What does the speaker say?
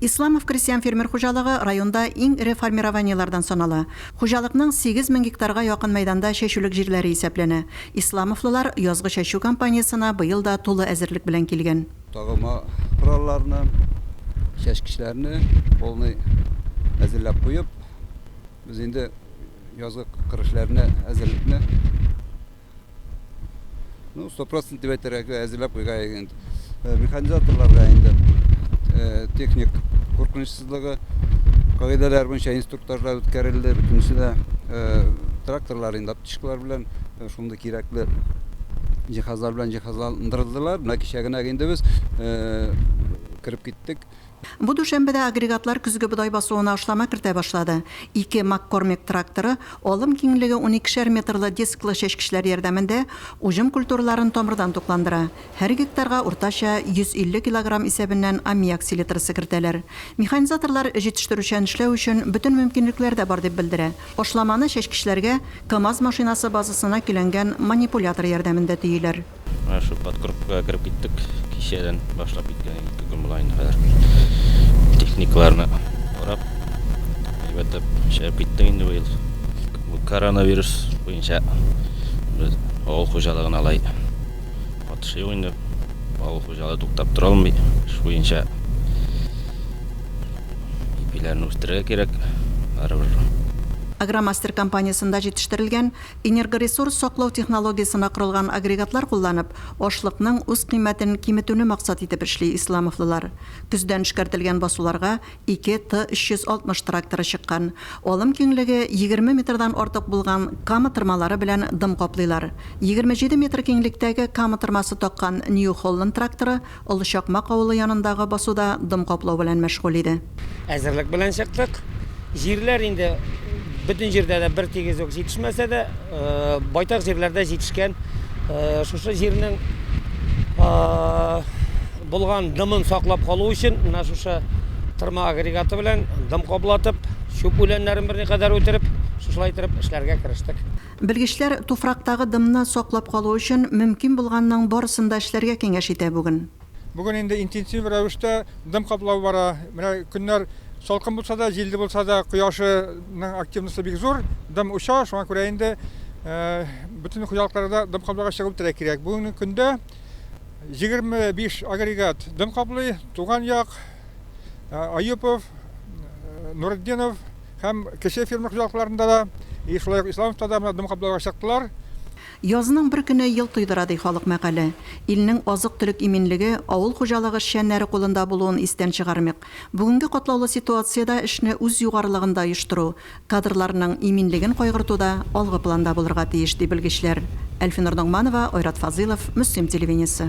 Исламов крестьян-фермер хуҗалыгы районда иң эре формированиеләрдән санала. Хуҗалыкның сигез мең гектарга якын мәйданда чәчүлек җирләре исәпләнә. Исламовлылар язгы чәчү кампаниясенә быел да тулы әзерлек белән килгән. Тагылма коралларны, чәчкечләрне полный әзерләп куеп, без инде язгы кыр эшләренә әзерлекне. Ну, 100% дип әйтергә әзерләп куйга инде. Э, механизаторларга инде э, техник куркынычсызлыгы кагыйдәләр буенча инструктажлар үткәрелде. Бөтенесе дә э, тракторлар инде аптечкалар белән шундый кирәкле җиһазлар белән җиһазландырылдылар. Менә кичә генә инде без кереп киттек. Бу дүшәмбедә агрегатлар көзге бодай басуына ашлама кертә башлады. Ике Маккормек тракторы, алым киңлеге уникешәр метрлы дисклы чәчкечләр ярдәмендә, уҗым культураларын тамырдан тукландыра. Һәр гектарга уртача 150 килограмм исәбеннән аммиак селитрасы кертәләр. Механизаторлар җитештерүчән эшләү өчен бөтен мөмкинлекләр дә бар, дип белдерә. Ашламаны чәчкечләргә КАМАЗ машинасы базасына көйләнгән манипулятор ярдәмендә төяләр. Менә шул подкрупкага кереп киттек. Кичәдән башлап киткән идек, ике көн була инде хәзер. Техникаларны карап, әйбәтләп эшләп киттек инде быел. Бу коронавирус буенча без авыл хуҗалыгын алай катышы юк инде. Авыл хуҗалыгы туктап тора алмый. Эш буенча ипиләрне үстерергә кирәк. Барыбер Агромастер компаниясендә җитештерелгән Энергоресурс саклау технологиясенә корылган агрегатлар кулланып, ашлыкның үз кыйммәтен киметүне максат итеп эшли исламовлылар. Көздән эшкәртелгән басуларга ике Т-360 тракторы чыккан. Алым киңлеге егерме метрдан артык булган кама тырмалары белән дым каплыйлар. Егерме җиде метр киңлектәге кама тырмасы таккан Нью-Холланд тракторы Олы Чакмак авылы янындагы басуда дым каплау белән мәшгуль иде. Әзерлек белән чыктык. Җирләр инде бөтен җирдә дә бертигез үк җитешмәсә дә, байтак җирләрдә җитешкән. Шушы җирнең булган дымын саклап калу өчен менә шушы тырма агрегаты белән дым каплатып, чүп үләннәрен берникадәр үтереп, шушылай итеп эшләргә керештек. Белгечләр туфрактагы дымны саклап калу өчен мөмкин булганның барысын да эшләргә киңәш итә бүген. Бүген инде интенсив рәвештә дым каплау бара. Менә көннәр салкын булса да, җилле булса да, кояшының активносы бик зур, дым оча. Шуңа күрә инде бөтен хуҗалыкларда дым капларга чыгып терәк кирәк. Бүгенге көндә 25 агрегат дым каплый, Туган як, Аюпов, Нуретдинов, Һәм кече ферма хуҗалыкларында да, и шулай ук Исламовта да менә дым каплауга чыктылар. Язның бер көне ел туйдыра, ди халык мәкале. Илнең азык-төлек иминлеге, авыл хуҗалыгы эшчәннәре кулында булуын истән чыгармыйк. Бүгенге катлаулы ситуациядә эшне үз югарылыгында оештыру, кадрларның иминлеген кайгыртуда алгы планда булырга тиеш, ди белгечләр. Әлфинур Ногманова, Айрат Фазыйлов, Мөслим телевидениесе.